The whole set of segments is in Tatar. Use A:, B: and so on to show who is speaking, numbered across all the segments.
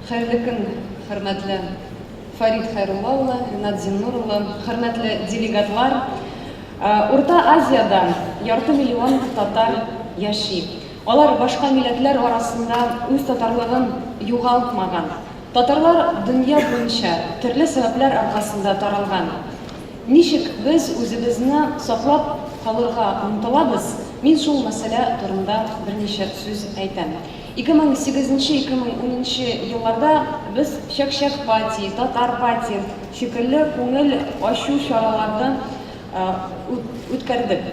A: Хәерле көн, хөрмәтле Фарид Хәйрулла улы, Ринат Зиннур улы, хөрмәтле делегатлар. Урта Азиядә ярты миллион татар яши. Алар башка милләтләр арасында үз татарлыгын югалтмаган. Татарлар дөнья буенча төрле сәбәпләр аркасында таралган. Ничек без үзебезне саклап калырга омтылабыз, мин шул мәсьәлә турында берничә сүз әйтәм. 2008 нче, 2010 нчы елларда без Чәк-чәк пати, Татар пати шикелле күңел ачу чараларны үткәрдек.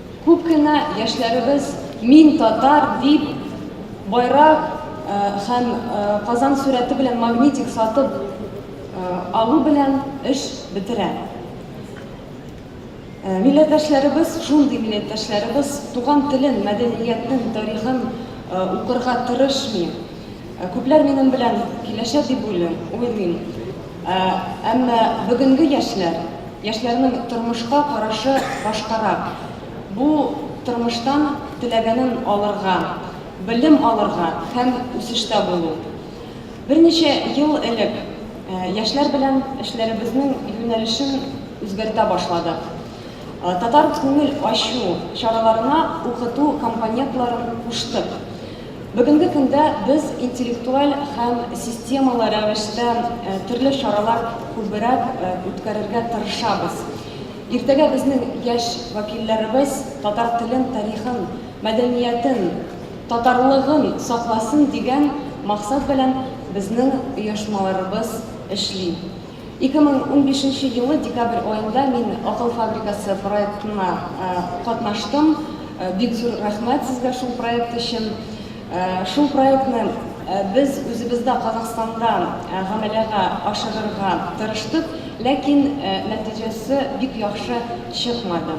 A: Күп кенә яшьләребез Мин татар дип байрак һәм Казан сурәте белән магнитик сатып алу белән эш бетерә. Милләттәшләребез, шундый милләттәшләребез туган телен, мәдәниятен, тарихын укырга тырышмый. Күпләр минем белән килешә дип уйлыйм. Әмма бүгенге яшьләр, яшьләрнең тормышка карашы башкарак. Бу тормыштан теләгәнен алырга, белем алырга һәм үсештә булу. Берничә ел элек яшьләр белән эшләребезнең юнәлешен үзгәртә башладык. Татар күңел ачу чараларына укыту компонентларын куштык. Бүгенге көндә без интеллектуаль һәм системалы рәвештә төрле чаралар күбрәк үткәрергә тырышабыз. Иртәгә безнең яшь вәкилләребез татар телен, тарихын, мәдәниятен, татарлыгын сакласын дигән максат белән безнең оешмаларыбыз эшли. Ике мең унбишенче елы декабрь аенда мин Акыл фабрикасы проектына катнаштым. Бик зур рәхмәт сезгә шул проект өчен. Шул проектны без үзебездә Казахстанда гамәләгә ашырырга тырыштык, ләкин нәтиҗәсе бик яхшы чыкмады.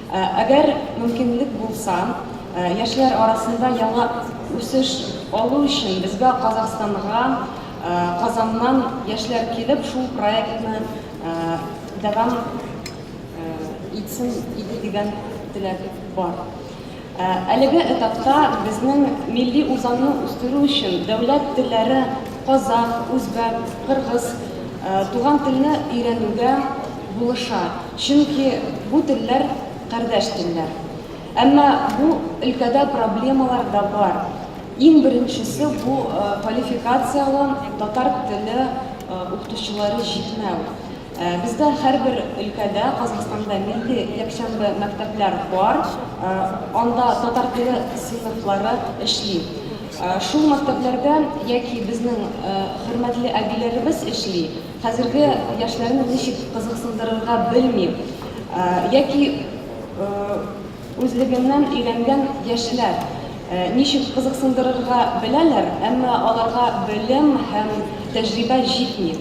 A: Әгәр мөмкинлек булса, яшьләр арасында яңа үсеш алу өчен безгә Казахстанга Казаннан яшьләр килеп шул проектны дәвам итсен иде дигән теләк бар. Әлеге этапта безнең милли үзаңны үстерү өчен дәүләт телләре, казах, үзбәк, кыргыз, туган телне өйрәнүгә, булыша, чөнки бу телләр кардәш телләр. Әмма бу өлкәдә проблемалар да бар. Иң беренчесе, бу квалификацияле татар теле укытучылары җитмәү. Бездә һәрбер өлкәдә, Казахстанда милли якшәмбе мәктәпләр бар, анда татар теле сыйныфлары эшли. Шул мәктәпләрдә яки безнең хөрмәтле әбиләребез эшли, Хәзерге яшьләрне ничек кызыксындырырга белмим. Яки үзлегеннән өйрәнгән яшьләр ничек кызыксындырырга беләләр, әмма аларга белем һәм тәҗрибә җитми.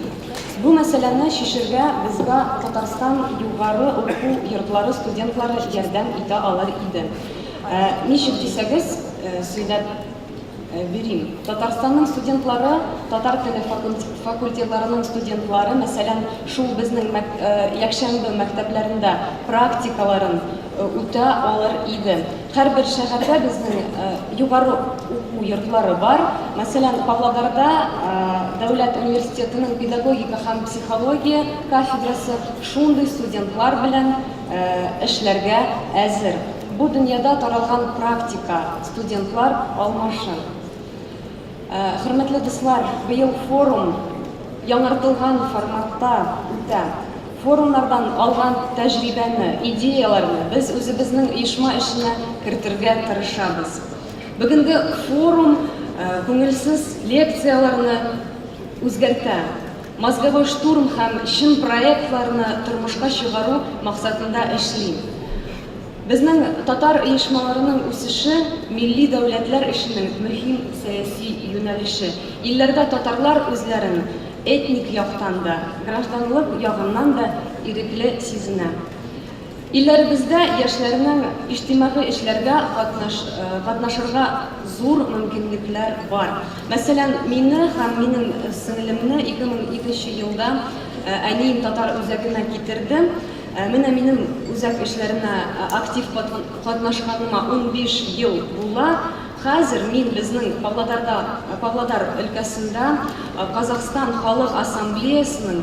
A: Бу мәсьәләне чишергә безга Татарстан югары уку йортлары студентлары ярдәм итә алыр иде. Ничек дисәгез, сөйләп Бирим. Татарстанның студентлары, татар теле факультетларының студентлары, мәсәлән, шул безнең якшәмбе мәктәпләрендә практикаларын үтә алыр иде. Һәрбер шәһәрдә безнең югары уку йортлары бар. Мәсәлән, Павлодарда дәүләт университетының педагогика һәм психология кафедрасы шундый студентлар белән эшләргә әзер. Бу дөньяда таралган практика. Студентлар алмашын. Хөрмәтле дуслар, быел форум яңартылган форматта үтә. Форумнардан алган тәҗрибәне, идеяләрне без үзебезнең оешма эшенә кертергә тырышабыз. Бүгенге форум күңелсез лекцияләрне үзгәртә, мозговой штурм һәм чын проектларны тормышка чыгару максатында эшли. Безнең татар оешмаларының үсеше, милли дәүләтләр эшенең мөһим сәяси юнәлеше. Илләрдә татарлар үзләрен этник яктан да, гражданлык ягыннан да ирекле сизенә. Илләребездә яшьләрнең иҗтимагый эшләргә катнашырга зур мөмкинлекләр бар. Мәсәлән, мине һәм минем сеңлемне 2002 нче елда әнием татар үзәгенә китерде. Ә менә минем үзәк эшләренә актив катнашканыма унбиш ел була. Хәзер мин безнең Павлодарда, Павлодар өлкәсендә Казахстан Халык Ассамблеясының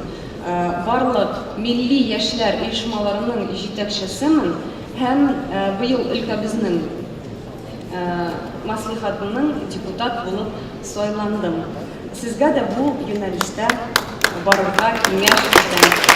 A: барлык милли яшьләр оешмаларының җитәкчесемен һәм быел өлкәбезнең, Маслихатының депутат булып сайландым. Сезгә дә бу юнәлештә барырга киңәш итәм.